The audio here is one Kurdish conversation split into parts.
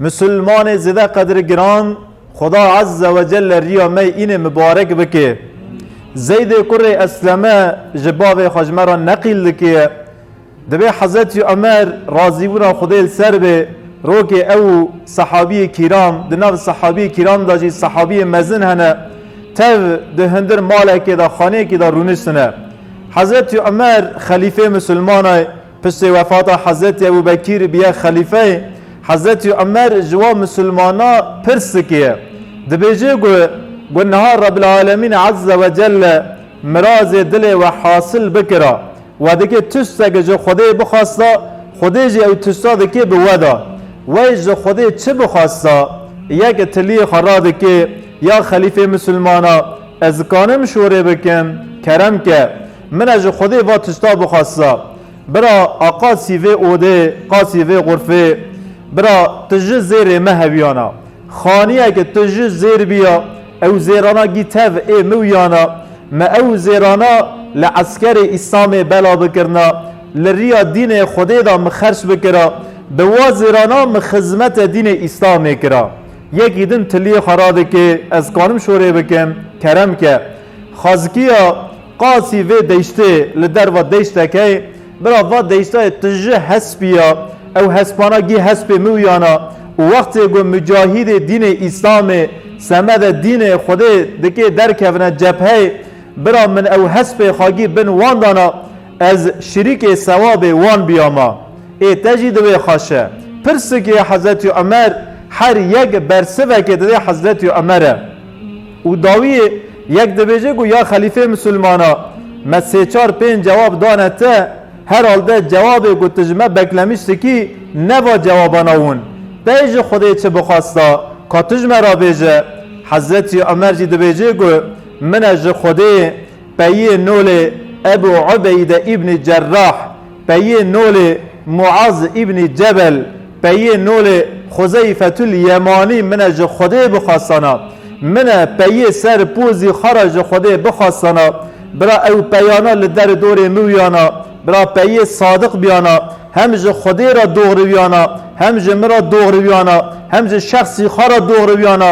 Musulmanê zêde qedrgiran Xuda Azze ve Celle riya me înê mibarek bike. Zeydê kurê Esleme ji bavê xwe ji me re neqîl dikiye. Divê Hezretî Omer razîbûna Xwedê li ser be rokê ew û sehabîyê kîram di nav sehabîyê kîram de jî sehabîyê mezin hene tev di hundir malekê de xaneyekî de rûniştine. Hezretî Omer xelîfê musulmanay Piştî wefata Hezretî Ebû Bekîr bûye xelîfeyê, Hezretî Umer ji wan misilmanan pirs dikiye, dibêje ku ku niha Rebbil Alemîn Ezze ve Celle mirazê dilê we hasil bikira, we dikê tiştek ji Xwedê bixwesta, Xwedê jî ew tişta dikê bi we da. Wey ji Xwedê çi bixwesta? Yek tiliyê xwe radikê, Ya xelîfê misilmanan, ez dikanim şorê bikim, kerem ke. Min e ji Xwedê va tişta bixwasisa. Bira a qasî vê odê, qasî vê xurfê. Bira tu ji zêrê me hewiyana. Xaniye ke tu ji zêr biya, ew zêrana gî tev ê mi wiyana. Me ew zêrana li eskerê Îslamê bela bikirina. Li riya dînê Xwedê da mi xerç bikira. Bi wa zêrana mi xizmete dînê Îslamê kira. Yekî din tiliyê xwe radike, ez kanim şorê bikim, kerem ke. Xazikiya qasî vê deştê li derva deştekey bira va deştayê tu ji hespî ya ew hespana gî hespê mi wiyana û wextê ku mucahîdê dînê îslamê semede dînê xwedê dikê derkevine cepheyê bira min ew hespê xwe gî bin wan dana ez şirîkê sewabê wan biyama ê te jî divê xweşe pirsikê hezretî Omer her yek bersivekê divê hezretî Omer e. Û dawiyê yek dibêje ku ya xelîfê misilmana me sê çar pênc cewab dane te, herhalde cewabê ku tu ji me beklemîş dikî ne va cewabana win. Pey ji Xwedê çi bixwesta ka tu ji me re bêje? Hezretî Omer jî dibêje ku min e ji Xwedê Peyê nolê Ebû Ubeyde Îbnî Cerrah, peyê nolê Muaz Îbnî Cebel, peyê nolê Xuzeyfetul Yemanî min e ji Xwedê bixwesana. Min e peyê ser pozî xwe re ji Xwedê bixwesana. Bira ew peyana li der û dorê miwiyana. Bira peyê sadiq biyana. Hem ji Xwedê re dogriwiyana, hem ji min re dogriwiyana, hem ji şexsî xwe re dogriwiyana.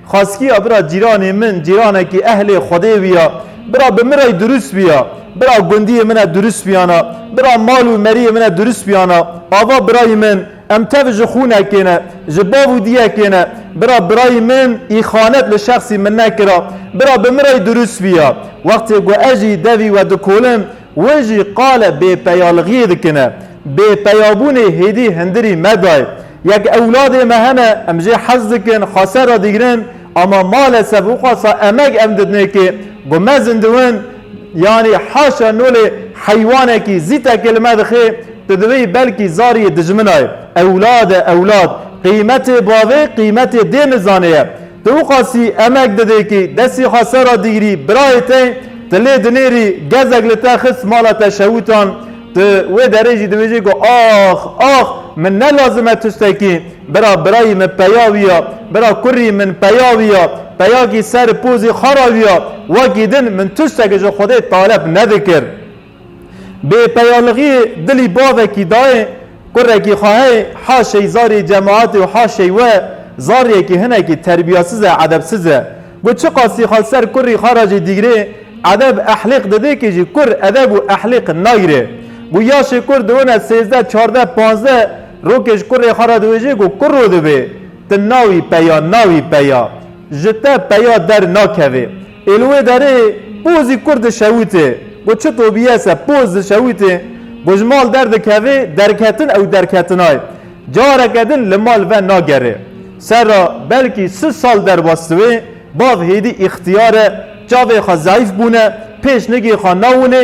Xaskiya bira cîranê min cîranekî ehlê Xwedê wiya. Bira bi min rey durust wiya. Bira gundiyê min e durust wiyana. Bira mal û meriyê min e durust wiyana. Ava birayî min, em tev ji xûnekê ne, ji bav û diyekê ne. Bira birayî min îxanet li şexsî min nekira. Bira bi min rey durust wiya. Wextê ku ez jî devî we dikolin, Wê jî qale bêpeyalixiyê dikine. Bêpeyabûnê hêdî hindirî me dayê. Yek ewladê me hene, em jê hez dikin, xase re digrin ama malesef wixasa emek em didnêkê ku me zindiwin yanî haşa nolê heywanekî zî teke li me dixê, tu divî belkî zariyê dijminayê. Ewlad e ewlad, qîmetê bavê qîmetê dê nizanê ye. Tu qasî emek didê kî destî xwe ser a digirî birayê te tu lê dinêrî gezek li te xist mala te şewûtan tu wê derê jî dibêjî ku ax ax min ne lazim e tustekî bira birayî min peya wî ya bira kurî min peya wî ya peyakî ser pozî xwe ra wî ya wekî din min tustek ji xwedê talep nedikir. Bê peyalixî dilî bavekî dayê kurekî xwe hey ha şeyzarî cemaetê û ha şey we zaryekî hinekî terbiyasiz e edebsiz e. Got çiqasî xal ser kurî xwe re jî dîgrê edeb ehlîq didê kî jî kur edeb û ehlîq nayrê. Got yaşê kur diwine sêzdeh çardeh panzdeh rokê ji kurê xwe re diwêjê ku kuro divê tu nawî peya nawî peya ji te peya der nakevê. Ê li wê derê pozî kurd di şewitê, got çi to bîye se poz di şewitê, got ji mal derdikevê derketin ew derketinay careke din li mal ve nagerê ser re belkî sil sal derbastivê bav hêdî îxtiyare çavê xwe zeyf bûne pêşnigê xwe nawinê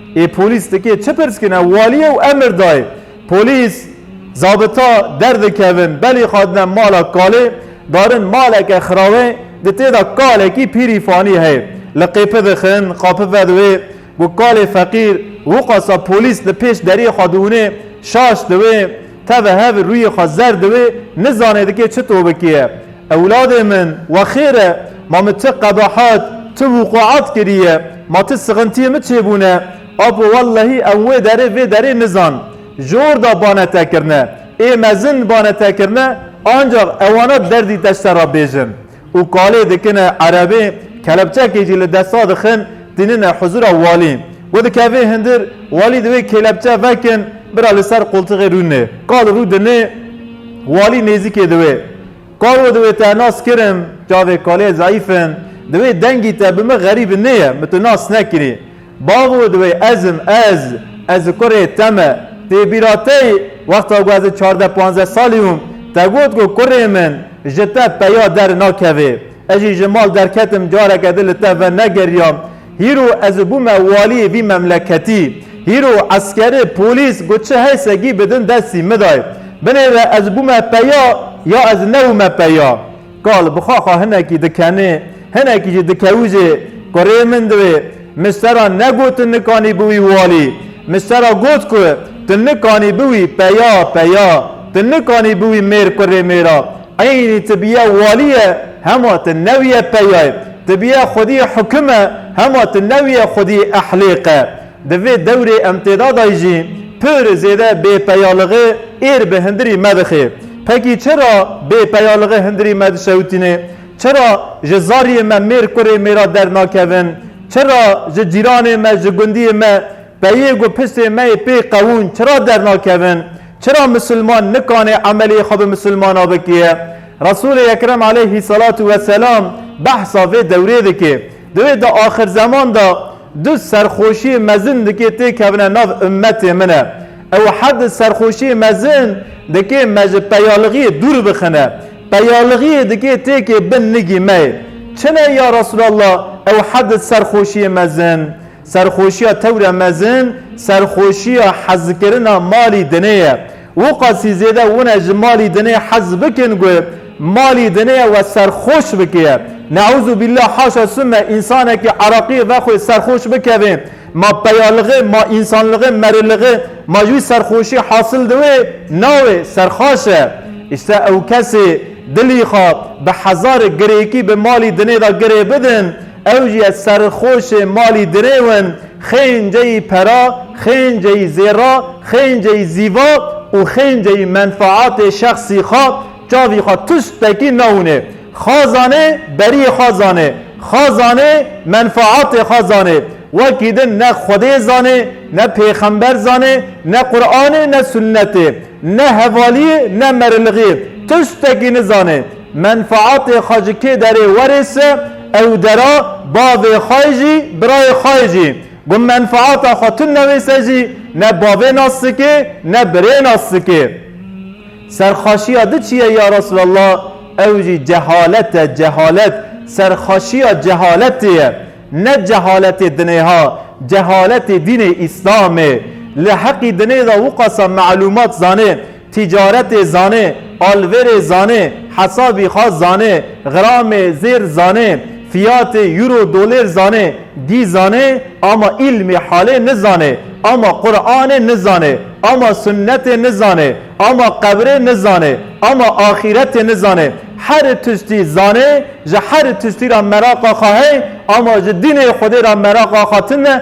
Ê polîs dikê çi pirs kine walî ew emir dayê. Polîs, zabita derdikevin belê xadine mala kalê darin maleke xirawê di têda kalekî pîrî fanî heye li qêpi dixin qapi vedi wê ku kalê feqîr wiqasa polîs li pêş deriyê xwe diûnê şaş di wê Teve hev rûyê xwe zer di wê nizanê dikê çi to bikiye. Ewladê min, we xêr e, ma min ti qebahat, ti wuquat kiriye, ma ti sixintiyê min çêbûne, apo wellehî em wê derê vê derê nizan. Ji orda bane te kirine. Ê mezin bane te kirine, ancax ewana derdî te ji te re bêjin. û kalê dikin e, erebê kelepçekê jî li desta dixin tînin e huzûra walî. We dikevê hundir, walî di wê kêlepçe vekin bira li ser qultixê rûnê. Kal rû dinê, walî nêzîkê di wê. Kal we di wê te nas kirim, çavê kalê zeîf in, di wê dengî te bi min xerîb nê ye, min tu nas nekirî. Bav û divê ez im, ez, ez û kurê te me. Tê bîra te yî, wexta ku ez çardeh panzdeh salî bûm, te got ku kurê min ji te peya der nakevê. Ez jî ji mal derketim careke din li te venegeriyam. Hîro ez bûme waliyê vî memleketî. Hîro eskerê, polîs ku çi hey segî bi din destî midayê. Binêre ez bûme peya ya ez nebûme peya. Kal bi xwe xwe hinekî dikenê, hinekî jî dikewizê ku rê min divê. Mistera negot tu nikanî bi wî walî. Mistera got ku tu nikanî bi wî peya peya. Tu nikanî bi wî mêr kurê mêra. Eynî tu biye walî ye hema tu newiye peyayê. Tu biye xwedî hukime hema tu newiye xwedî ehlêqe. Di vê dewrê em tê da dayî jî pir zêde bêpeyalixî êr bi hindirî me dixê. Pekî çira bêpeyalixî hindirî me dişewitînê? Çira ji zariyê me mêr kurê mêra dernakevin? Çira ji cîranê me, ji gundiyê me peyê ku piştê me yê pê qewûn çira dernakevin? Çira misilman nikanê emeliyê xwe bi misilmana bikê? Resûlê Ekrem aleyhî selatû weselam behsa vê dewrê dike. Di wê de axirzeman de du serxweşiyê mezin dikê têkevine nav ummetê min e. Ew her du serxweşiyê mezin dikê me ji peyalixiyê dûr bixine. Peyalixiyê dikê têkê bin nigî me yê. Çi ne ya Resûlallah ew her du serxweşiyê mezin? Serxweşiya tewre mezin serxweşiya hezkirina malî dinê ye. Wiqasî zêde wine ji malî dinê hez bikin ku malî dinê we serxweş bikiye. Neûzûbîllah haşa sûme însanekî Iraqî vexwê serxweş bikeve. Ma peyalixê, ma însanlixê, merilixê ma ji wî serxweşî hasil diwê navê serxaş e. Îşte ew kesê dilî xwe bi hezar girêkî bi malî dinê de girê bidin, Ew jî ez serxoşê malî dirê win, xênceyî pera, xênceyî zêra, xênceyî zîva û xênceyî menfaatê şexsî xwe çavî xwe tiştekî nawnê. Xwe zanê beriyê xwe zanê, xwe zanê menfaatê xwe zanê. Wekî din ne Xwedê zanê, ne pêxember zanê, ne Quranê ne sunnetê, ne hevaliyê ne merilixiyê tiştekî nizanê. Menfaatê xwe ji kê derê werê se ew dera bavê xwe jî birayê xwe jî ku menfaata xwe tune wê se jî ne bavê nas dike ne birê nas dike. Serxaşiya di çi ye ya Resulallah ew jî cehalet e cehalet serxaşiya cehaletê ye ne cehaletê dinê ha cehaletê dînê îslamê li heqî dinê de wixasa melumat zanê Tîcaretê zanê, alverê zanê, hesabî xwe zanê, xiramê zêr zanê, fiyatê euro dolêr zanê, dî zanê ama îlmê halê nizanê, ama Quranê nizanê, ama sunnetê nizanê, ama qebrê nizanê, ama axîretê nizanê. Herî tiştî zanê, ji herî tiştî ra meraqa xwe hey, ama ji dînê Xwedê ra meraqa xwe tune,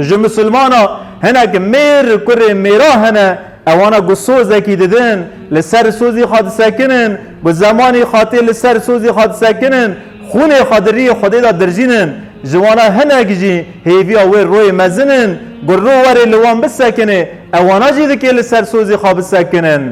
Ji misilmana hinek mêr kurê mêra hene ewana ku sozekî didin li ser sozî xwe disekinin ku zemanî xwe tê li ser sozî xwe disekinin xûnê xwe di riyê xwedê de dirjînin ji wana hinek jî hêviya wê royê mezin in ku ro were li wan bisekinê ewana jî dikê li ser sozî xwe bisekinin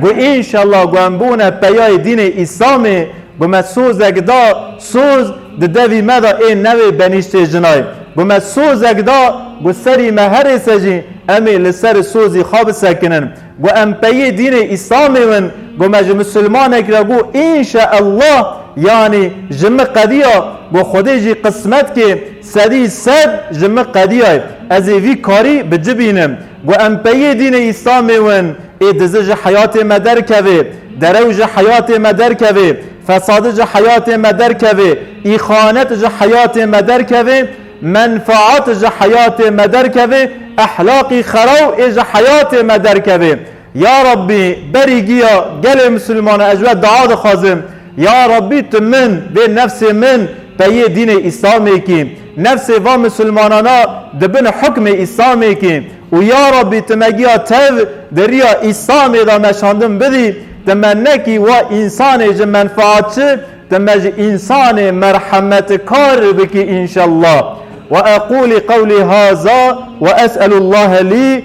ku înşellah ku em bûne peyayê dînê îslamê ku me sozek da soz Di devî me de ê newê benîştê jinay ku me sozek da ku serî me herê se jî em ê li ser sozî xwe bisekinin ku em peyê dînê Îslamê win ku me ji misilmanek re got Înşa Allah yanî ji min qediya ku Xwedê jî qismet ke sedî sed ji min qediyay ez ê vî karî bicibînim Ku em peyê dînê Îslamê win, ê dizi ji heyatê me derkevê, derew ji heyatê me derkevê, fesadi ji heyatê me derkevê, îxanet ji heyatê me derkevê, menfaat ji heyatê me derkevê, ehlaqî xeraw ê ji heyatê me derkevê. Ya Rabbî berî giya gelê misilmane ez ji we dua dixwazim, ya Rabbî tu min bê nefsê min peyê dînê îslamê kî, nefsê van misilmanana di bin hukmê îslamê kî û ya Rabbî tu me giya tev di riya îslamê de meşandin bidî, tu me nekî wa însanê ji menfaatçi tu me ji însanê merhemetkar bikî inşallah. Weeqûlî qewlî haza wees'elûllahe lî.